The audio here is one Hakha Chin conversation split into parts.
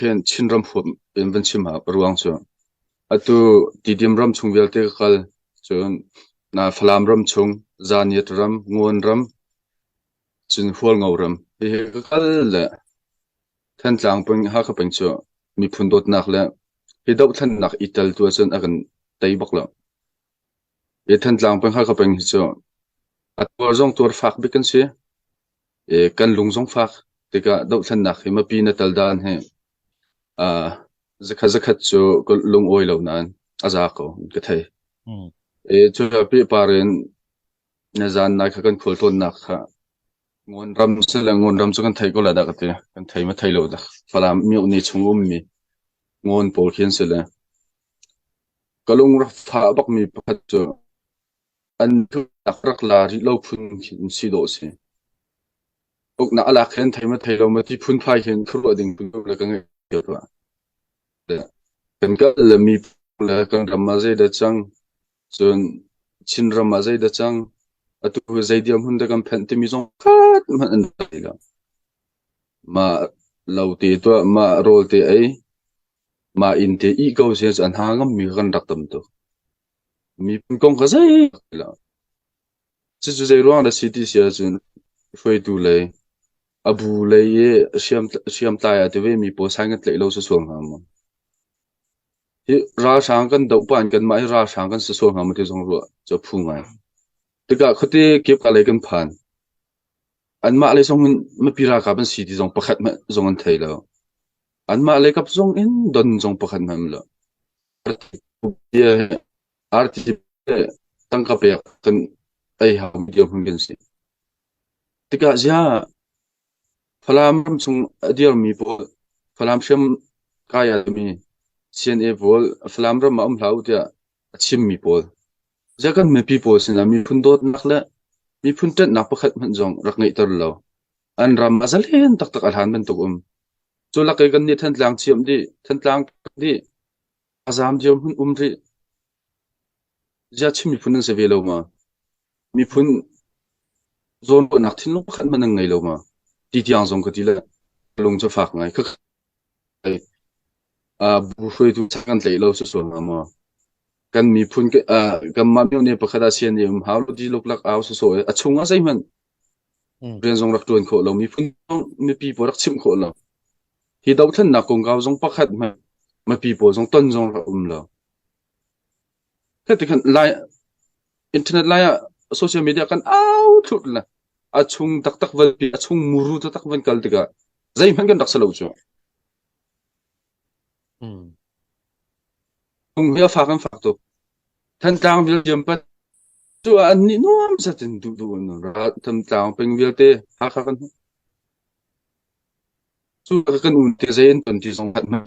Hihin Chinram huap in van chim ah a ruang cu atu Tidim ram chung vialte ka kal cun na Falam ram chung, Zaniat ram, Nguan ram, cun Hualngo ram hihi ka kal le Thantlang peng Hakha peng cu miphun dawtnak le hi dohthlennak i tel tu ahcun a kan tei bak lo. Hi Thantlang peng Hakha peng hi cu a tuar zong tuar fak bik an si. I kan lung zong fak tikah dohthlennak hi mipi na tal dan hi ah zakhat zakhat cu ka lungawi lo nain a za ko an ka thei. Mm. I cuka pehpar in na zan nai kha kan khual tlawnnak kha ngun ram si le ngun ram cu kan thei ko la dah ka ti. Kan thei ma thei lo dah. Falam miohni chung ummi ngun pawl khi an si le Ka lungrak tha a bakmi pakhat cu an tluk rak la rih lo phun khi si dawh a si. Uknak a lak hin thei ma thei lo ma ti phunphai hin khuaruah ding phun le ka ngeih cio tuah. Kan kal le mi le kan ram ah zeidah cang, cun Chin ram ah zeidah cang, atu zei diam hun da kan phanh timi zong khat hmanh an thei lo. Ma lo te tuah, ma rawl te ei, Mah inn te ih ko seh cu a hna ngammi kha kan rak tam tuk. Miphun kong kha zeihmanh ti lo. Cucu zeiruang dah si ti si ahcun hruaitu lei, a bu lei i a hriam hriamtlai a ti vemi pawl sign kan tlaih lo susual hnga maw? Hi ralhrang kan doh pah in kanmah hi ralhrang kan si sual hnga maw ti zong ruah cu a phu ngai. Tikah khuate kepka lei kan phan. Anmah lei zong in mipi ralkap an si ti zong pakhat hmanh zong an thei lo. Anmah lekap zong in don zong pakhat hmanh um lo. Arti le tangka pek kan ei hau dirhmun kan si. Tikah ziah Falam ramchung a dirmi pawl, Falam hriam kai almi CNA pawl Falam ram ah um hlah u tiah a chimmi pawl. Ziah kan mipi pawl sinah miphun dawtnak le miphun ṭanhnak pakhat hmanh zong rak ngeihter law an ram a zalen taktak a hlan bantuk um. Cu lakei kan nih Thantlang ciam dih, Thantlang dih, a zam dio hmun um rih. Ziah Chin miphun an si ve lo ma? Miphun zawnruahnak thinlung pakhat hmanh an ngei lo ma? Ti tiang zong ka ti le lung cu fak ngai. Ka uh, bu hruaitu kan tlei lo susual ma maw? kan miphun kanmah myo nih pakhat ah sian i um hau lo ti luklak au sawsawh a chung ah zeihmanh rian zong rak tuan khawh lo miphun zong mipi pawl rak chimh khawh lo hi dohthlennak kongkau zong pakhat hmanh mapi pawl zong ton zong rak um lo khan lai internet lai ah social media kan au thut la a chung taktak van pi a chung muru taktak van kal tikah zeihmanh kan rak salo chu Mm. Kum hia fak an fak tuk. Thantlang Belgium pat cu an ni nuam sat in du du an ra Thantlang peng vialte Hakha kan cu kan un te zei in ton ti zong kan man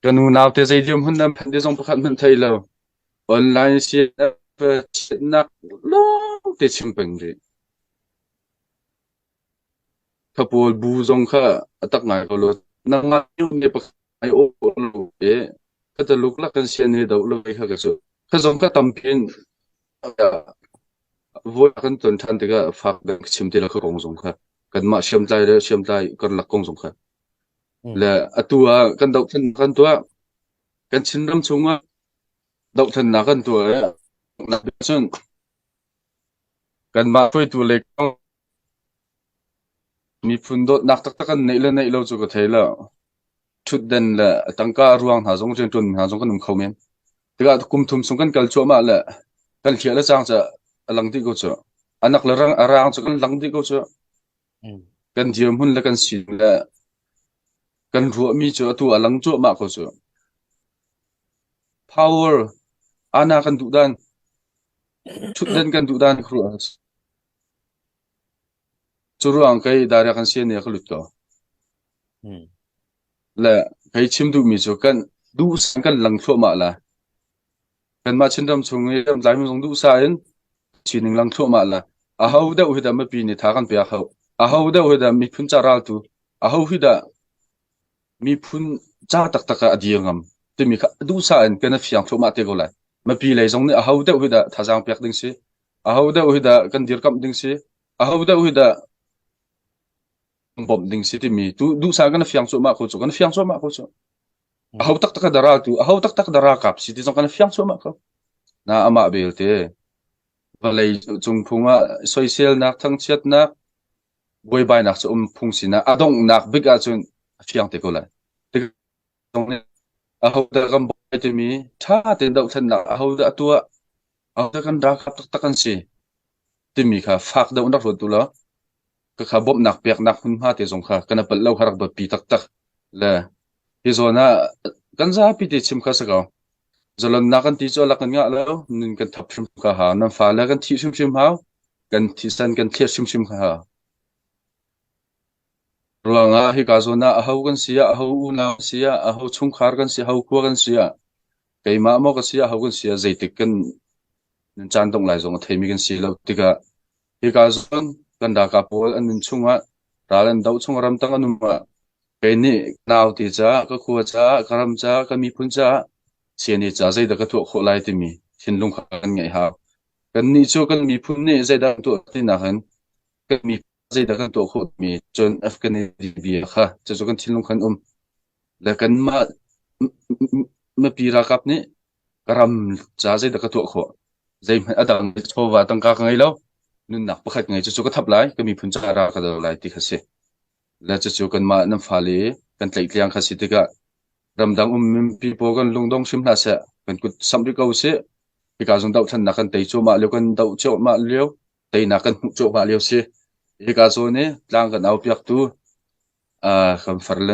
kan unau te zei liam hun nan phan te zong pakhat man thei lo online CNF nak long te chim peng ri Ka pawl bu zong kha a tak ngai ko lo. Na ngaimi pakhat ai awh lo i ka taluk lak kan sian he doh lo ve kha ka cu. Ka zong ka tam pin voi kan ton than tikah fak dang ka chim ti la ka kong zong kha kan mah hriamtlai le hriamtlai kan lak kong zong kha Mm. le atu ah kan doh than kan tuah kan chinram chung ah doh thannak kan tuah i cun kan mah hruaitu le kong Miphun dawtnak taktak an neih le neih lo cu ka thei lo. Ṭhutden le tangka a ruang hna zong, rianṭuan hna zong kan um kho men. Tikah kum thum chung kan kal cuahmah le kan hliah le cang cu a lang dih ko cuh. A nak le rang, a raang cu kan lang dih ko cuh. Kan dirhmun le kan sin le kan ruahmi cu atu a lang cuahmah ko cuh. Power, ana kan duh dan, ṭhutden kan duh dan khuaruah a si. Curuang kei direct an sian i a ka lut ko. Le kei chim duhmi cu kan duhsah kan lang thluahmah lai. Kanmah Chinram chung i Laimi zong duhsah in sining lang thluahmah lai. Aho deuh hi dah mipi nih tha kan pek hau. Aho deuh hi dah miphun ca raltu, aho hi dah miphun ca taktak ah a dir ngam timi kha duhsah in kan i fiang thluahmah te ko lai. Mipi lei zong nih aho deuh hi dah thazaang pek ding si. Ahodah hi dah kan dirkamh ding si? Ahodah hi dah kan bawmh ding si timi tu duhsah kan fiang cuahmah ko cu. Kan fiang cuahmah ko cu. A ho taktak a dara tu, a ho taktak dara kap si ti zong kan fiang cuahmah ko. Na amah belte. Vawlei cung phung ah soiselnak, thangchiatnak, buaibainak cu um phung sinak, a donghnak bik ahcun a fiang te ko lai. Ahodah kan bawi timi ṭha tein dohthlennak ahodah a tuah, ahodah kan ralkap taktak an si timi kha fak deuh in rak ruat u law khakha bawmhnak peknak hmunhma te zong kha kan i palh lo kha rak biapi taktak le hi zawn ah kan zapi te chim kha si ko. Zalonnak kan ti cu alak kan ngah lo, nun kan thap hrimhrim ka hau, nan fale kan thih hrimhrim hau, kan thisen kan thlir hrimhrim ka hau. Ruangah hika zawn ah aho kan si ah, aho unau kan si ah, aho chungkhar kan si ah, aho khua kan si ah, keimah maw kan si ah, aho kan si ah, zeitik kan nan caan dongh lai zong a theimi kan si lo tikah hika zawn kan ralkap pawl an nun chungah, ral an doh chung ramtang an um ah, kei nih ka naute caah, ka khua caah, ka ram caah, ka miphun caah, siani caah zeidah ka tuah khawh lai timi thinlung kha kan ngeih hau. Kannih cu kan miphun nih zeidah kan tuah tinak in kan miphun zeidah kan tuah khawhmi cun Afghanistan vial kha cucu kan thinlung khan um le kanmah mipi ralkap nih ka ram ca zeidah ka tuah khawh zeihmanh a dang chawva tangka ka ngei lo nunnak pakhat ngei cucu ka thap lai ka miphun ca ra ka do lai ti kha si le cucu kanmah nan fale kan tleitliang kha si tikah ramdang um mipi pawl kan lungdong hrim hna seh kan kut samh rih ko sih hika zong doh thannak kan tei cuahmah lio kan doh cuahmah lio teinak kan hmuh cuahmah lio si. Hika zawn i tlang kan aupiaktu kan Farle